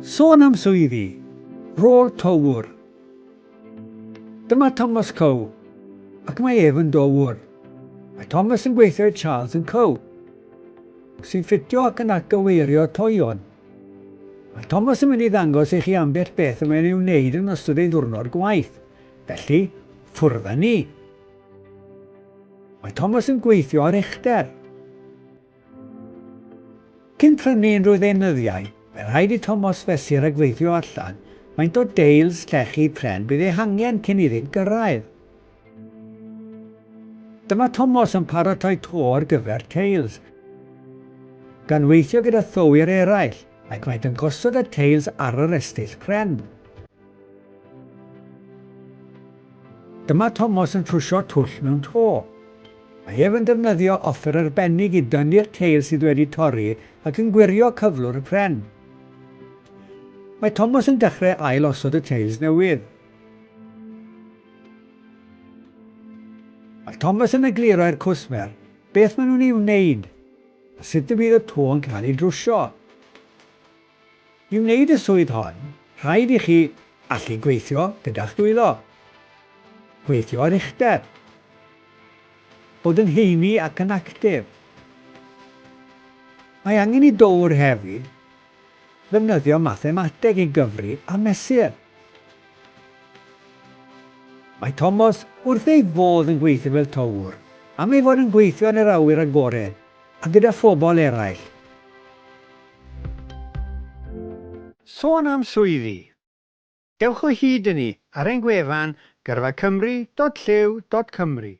Sôn am swyddi, rôl Towr. Dyma Thomas Coe, ac mae ef yn dowr. Mae Thomas yn gweithio i Charles and Co, sy'n ffitio ac yn atgyweirio toeon. Mae Thomas yn mynd i ddangos i chi ambell beth y mae'n ei wneud yn ystod ei ddiwrnod gwaith, felly ffwrdd â ni. Mae Thomas yn gweithio ar uchder. Cyn prynu unrhyw ddeunyddiau, fe rhaid i Tomos fesur a gweithio allan faint o deils llechi pren bydd ei hangen cyn iddynt gyrraedd. Dyma Tomos yn paratoi to ar gyfer teils. Gan weithio gyda thywwyr eraill, ac maent yn gosod y teils ar yr estyll pren. Dyma Tomos yn trwsio twll mewn to. Mae ef yn defnyddio offer arbennig i dynnu'r ceir sydd wedi torri ac yn gwirio cyflwr y pren. Mae Tomos yn dechrau ail osod y teils newydd. Mae Tomos yn egluro i'r cwsmer beth maen nhw'n ei wneud a sut y bydd y to yn cael ei drwsio. I wneud y swydd hon, rhaid i chi allu gweithio gyda'ch dwylo, gweithio ar uchder, bod yn heini ac yn actif. Mae angen i dowr hefyd ddefnyddio mathemateg i gyfri a mesur. Mae Tomos wrth ei fodd yn gweithio fel towr am ei fod yn gweithio yn yr awyr agored A gyda phobl eraill. Sôn am swyddi. Dewch o hyd i ni ar ein gwefan gyrfacymru.llyw.cymru.